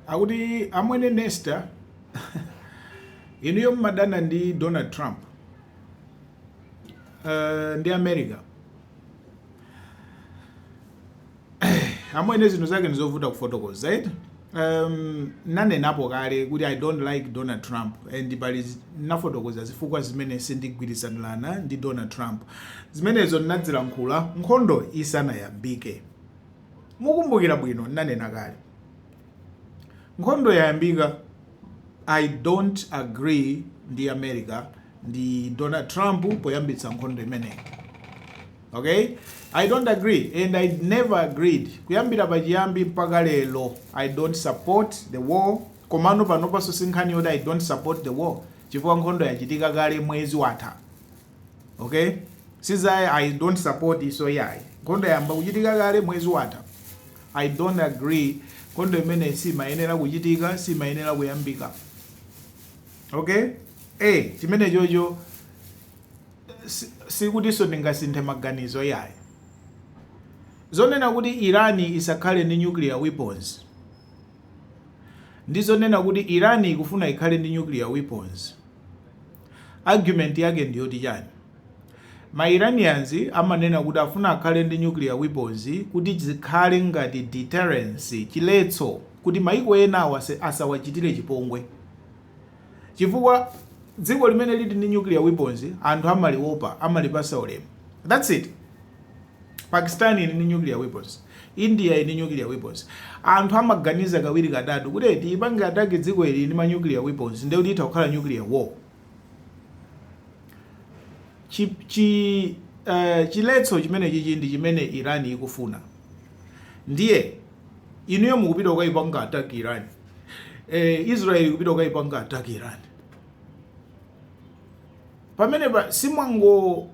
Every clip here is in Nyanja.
akuti amwene nesta inuyo mmadana ndi donald trump uh, ndi america amwene zinthu zake ndizovuta kufotokoza right? um, nanenapo kale kuti i don't like donald trump and pali nafotokoza zifukwa zimene sindigwirizanirana ndi donald trump zimenezo ndinazilankhula nkhondo isanayambike Mukumbukira bwino ndinanena kale nkhondo yayambika I don't agree ndi America ndi Donald Trump poyambitsa nkhondo imeneyi okay I don't agree and I never agreed kuyambira pachiyambi mpaka lero I don't support the war komano panopanso sinkhani yoti I don't support the war chifukwa nkhondo yachitika kale mwezi watha okay sizoti i don't support iso yayi nkhondo yamba kuchitika kale mwezi watha i don't agree nkhondo imene simayenera kuchitika simayenera kuyambika okay eh chimenechocho si- sikutinso ndingasinthe maganizo yayi zonena kuti irani isakhale ndi nuclear weapons ndi zonena kuti irani ikufuna ikhale ndi nuclear weapons Argument yake ndi yoti chani? Ma Iranians amanena kuti afuna akhale ndi nuclear weapons kuti zikhale ngati deterrence, chiletso, kuti maiko enawa asawachitire chipongwe. Chifukwa dziko limene lili ndi nuclear weapons anthu amaliopa, amalipasa ulemu. That's it. Pakistan ili ndi nuclear weapons. India ili ndi nuclear weapons. Anthu amaganiza kawiri katatu kuti tiipange attack dziko ili ndi ma nuclear weapons ndiye kuti itha kukhala nuclear war. Chi, chi uh, chiletso chimenechichi ndi chimene Iran ikufuna. Ndiye inuyo mukupita kukaipanga attack Iran. Eh, Israel ikupita kukaipanga attack Iran. Pamene pa si mwango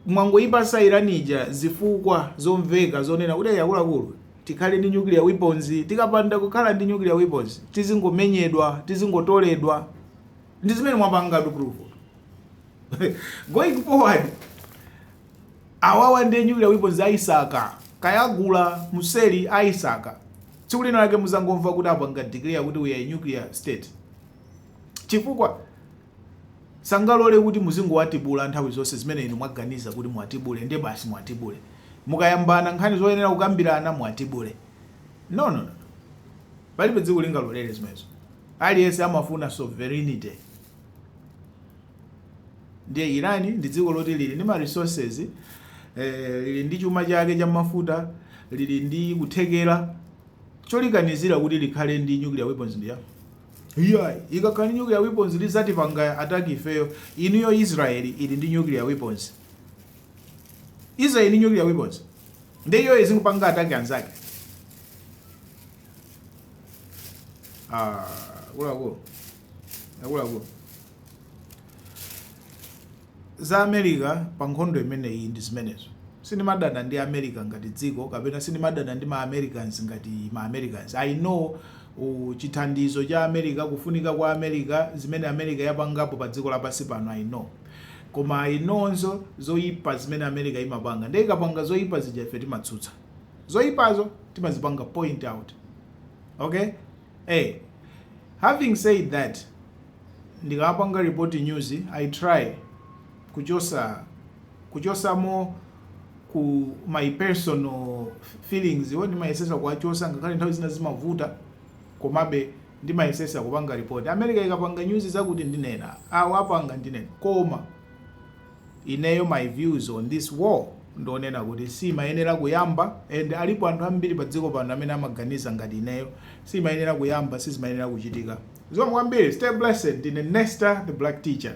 Mwangoipasa Iran ija zifukwa zomveka zonena kuti akuluakulu tikhale ndi nuclear weapons, tikapanda kukhala ndi nuclear weapons tizingomenyedwa, tizingotoledwa. Ndi zimene mwapanga prove going forward awawa ndi nuclear weapons aisaka kaya agula mseri aisaka tsiku lina lake muzangomva kuti apanga declare kuti we are a nuclear state chifukwa sangalole kuti muzingowatibula nthawi zonse zimene inu mwaganiza kuti muwatibule nde basi muwatibule. mukayambana nkhani zoyenera kukambirana muwatibule no no no palibe dziko lingalolere zimenezo aliyense amafuna sovereignty ndiye iran ndi dziko loti lili ndi ma resources eh, lili ndi chuma chake cha mafuta lili ndi kuthekera cholikanizira kuti likhale ndi nuclear weapons ndiya Iyayi, ikakhala ndi nuclear weapons lidzatipanga attack ifeyo. Inuyo Israel ili ndi nuclear weapons? Israel ili ndi nuclear weapons? Nde iyoyo izingopanga attack anzake? Ah, akuluakulu. Akuluakulu. za America pa nkhondo imeneyi ndi zimenezo. Sindimadana ndi America ngati dziko kapena sindimadana ndi ma Americans ngati ma Americans. I know chithandizo cha America, kufunika kwa America, zimene America yapangapo pa dziko lapansi pano, I know. Koma I know nso zoipa zimene America imapanga. Ndiye ikapanga zoipa zija ife timatsutsa. Zoipazo timazipanga point out. Okay? Hey, having said that, ndikamapanga report news, I try kuchosa, kuchosamo ku my personal feelings iwo ndimayesesa kuwachosa ngakhale nthawi zina zimavuta komabe ndimayesesa kupanga report america ikapanga news zakuti ndinena awa apanga ndinena koma Ineyo my views on this war ndionena kuti siimayenera kuyamba and alipo anthu ambiri pa dziko pano amene amaganiza ngati ineyo siimayenera kuyamba sizimayenera kuchitika zikomo kwambiri stay blessed ndine Nesta the black teacher.